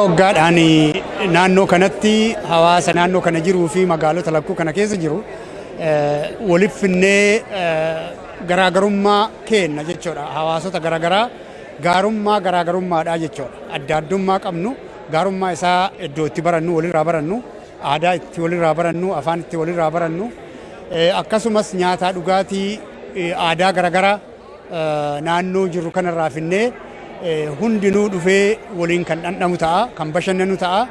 Waggaadhaan naannoo kanatti hawaasa naannoo kana jiruu fi magaalota lakkuu kana keessa jiru waliif finnee garaagarummaa keenna jechuudha. Hawaasota garaagaraa gaarummaa garaagarummaadhaa jechuudha. Adda addummaa qabnu gaarummaa isaa iddoo itti barannu walirraa barannu aadaa itti walirraa barannu afaan itti walirraa barannu akkasumas nyaataa dhugaatii aadaa garaagaraa naannoo jirru kanarraa finnee hundinuu dhufee waliin kan dhandhamu ta'a, kan bashannanu ta'a.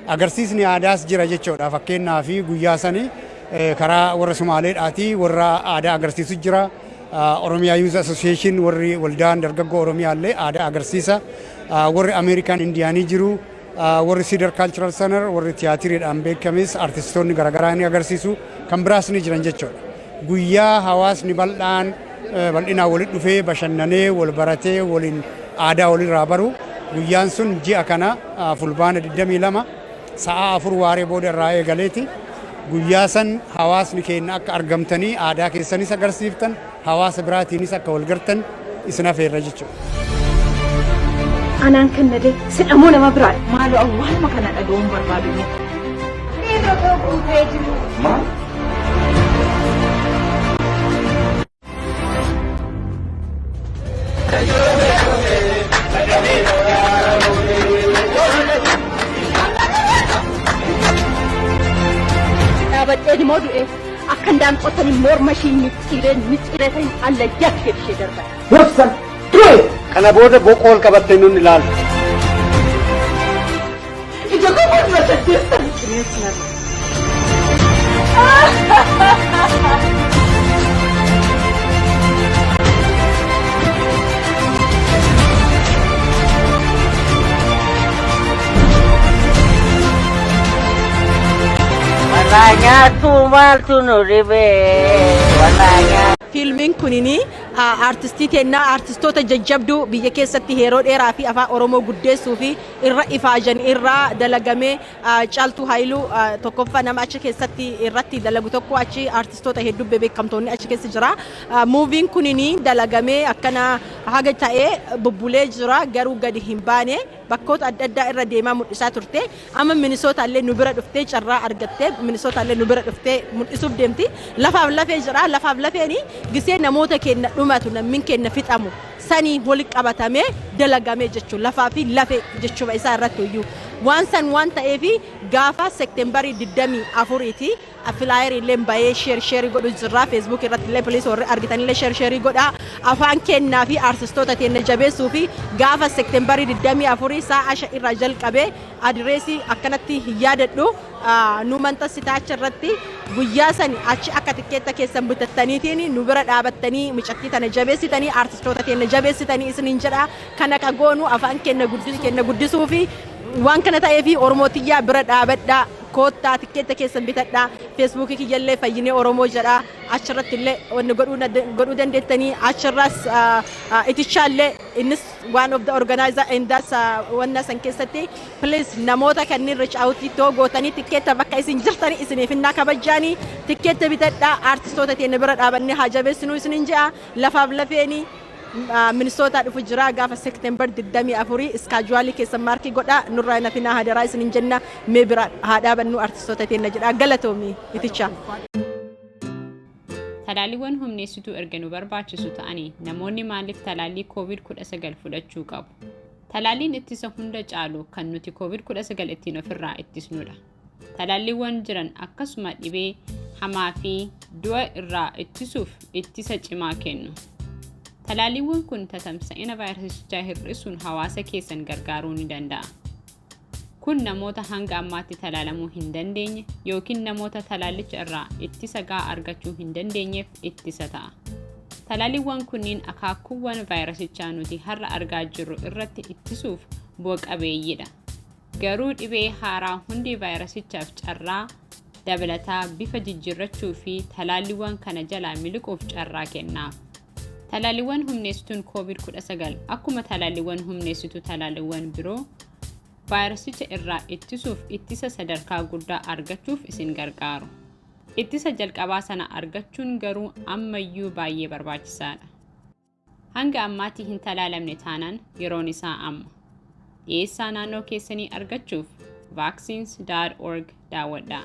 Agarsiisni aadaas jira jechuudha. Fakkeenyaaf guyyaa sani karaa warra Sumaaleedhaati warra aadaa agarsiisu jira. Oromiyaa Yuuz Asosiyeeshin warri waldaan dargaggoo Oromiyaa illee aadaa agarsiisa. Warri Ameerikaan Indiyaanii jiru. Warri Cedar Cultural Center warri tiyaatiriidhaan beekames artistoonni garaagaraa ni agarsiisu. Kan biraas ni jiran jechuudha. Guyyaa hawaasni bal'aan bal'inaan walitti dhufee bashannanee wal baratee waliin aadaa walirraa baru guyyaan sun ji'a kana fulbaana 22 sa'a afur waaree booda irraa eegaleeti. Guyyaa san hawaasni keenya akka argamtanii aadaa keessanis agarsiiftan hawaasa biraatiinis akka wal gartan isin hafeerra jechuudha. Anaan kan na deemu sidha moo nama biraadha? Maaloo awwaaluma kana dhaga'uun barbaadu mee. Dhaabadheen immoo du'eef. Akka hindaan qotanii morma ishii micciiree micciiree ta'in alla jakkee ishee darban. Dursan ture. Kana booda boqoo ol qabattee nun ilaaltu. Ija koo morma saddeettan. Bineensi nama. Walaa nyaattu maaltu nu dhibee walaa nyaattu. Fiilmiin kunin aartistii teennaa aartistoota jajjabduu biyya keessatti yeroo dheeraa fi afaan Oromoo guddeessuu fi irra ifaajan irraa dalagamee Caaltuu Haayiluu tokkoffaa nama achi keessatti irratti dalagu tokko achi aartistoota hedduu beekamtoonni achi keessa jira. Muuviin kunin dalagamee akkana haga ta'ee bubbulee jira garuu gadi hin baane. bakkoota adda addaa irra deemaa mul'isaa turte. Amma Minisootaa illee nu bira dhuftee carraa argattee Minisootaa illee nu bira dhuftee mul'isuuf deemti. Lafaaf lafee jira. Lafaaf lafeen gisee namoota keenna dhumatu nammin keenna fixamu saniin wali qabatamee dalagame jechu lafaa fi lafee jechuma isaa irrattu iyyuu waan san waan ta'eef gaafa Sektembarii 24 ti Flyeri illeen bayee share share godhu jirraa Facebook irratti illee please warri argitanii illee share share godhaa afaan kennaa fi artistoota teenna jabeessuu fi gaafa September 24 saa'a 5 irraa jalqabee adireesi akkanatti hin yaadadhu nu manxassita achi irratti guyyaa sani achi akka tikkeetta keessan bitattaniitiin nu bira dhaabattanii micattii tana jabeessitanii artistoota teenna jabeessitanii isiniin jedha kana ka goonu afaan kenna guddisuu fi waan kana ta'ee fi Oromoo tiyyaa bira dhaabadhaa Koottaa tikkeetta keessan bitadhaa. Feesbuukii kiyyallee Fayyinee Oromoo jedha. Achirratti illee wanni godhuu na- godhuu dandeettanii. Achirraas ah, ah, itichaa illee innis one of the organizer and that's ah, wanna san keessatti please namoota kanneen reach out ittoo gootanii tikkeetta bakka isin jirtanii isiniif innaa kabajjaanii tikkeetta bitadhaa. Artistoota teenya bira dhaabannee haa jabeessinuu isiniin je'a. Lafaaf lafeeni Ministootaa dhufu jiraa gaafa Sektembar 24 iskaajuwaalii keessan maarkii godhaa nurraa hin hafinaa hadaraa isinin jenna mee biraa haa dhaabannuu artistoota teenna jedhaa galatoomi itichaa. Talaalliiwwan humneessituu erga nu barbaachisu ta'anii namoonni maaliif talaallii COVID-19 fudhachuu qabu? Talaalliin ittisa hunda caalu kan nuti COVID-19 ittiin ofirraa ittisnudha. Talaalliiwwan jiran akkasuma dhibee hamaa fi du'a irraa ittisuuf ittisa cimaa kennu. Talaalliiwwan kun tatamsa'ina vaayirasichaa hir'isuun hawaasa keessan gargaaruu ni danda'a. Kun namoota hanga ammaatti talaalamuu hin dandeenye yookiin namoota talaallicha irraa ittisa gahaa argachuu hin dandeenyeef ittisa ta'a. Talaalliiwwan kunniin akaakuuwwan vaayirasichaa nuti har'a argaa jirru irratti ittisuuf bu'a qabeeyyiidha. Garuu dhibee haaraa hundee vaayirasichaaf carraa dabalataa bifa jijjiirrachuu fi talaalliiwwan kana jalaa miliquuf carraa kenna. Talaalliiwwan humneessituun COVID-19 akkuma talaalliiwwan humneessituu talaalliiwwan biroo vaayirasicha irraa ittisuuf ittisa sadarkaa guddaa argachuuf isin gargaaru. Ittisa jalqabaa sana argachuun garuu ammayyuu baay'ee barbaachisaadha. Hanga ammaatti hin talaalamne taanaan yeroon isaa amma. Dhiyeessaa naannoo keessanii argachuuf vaccines.org daawwadhaa.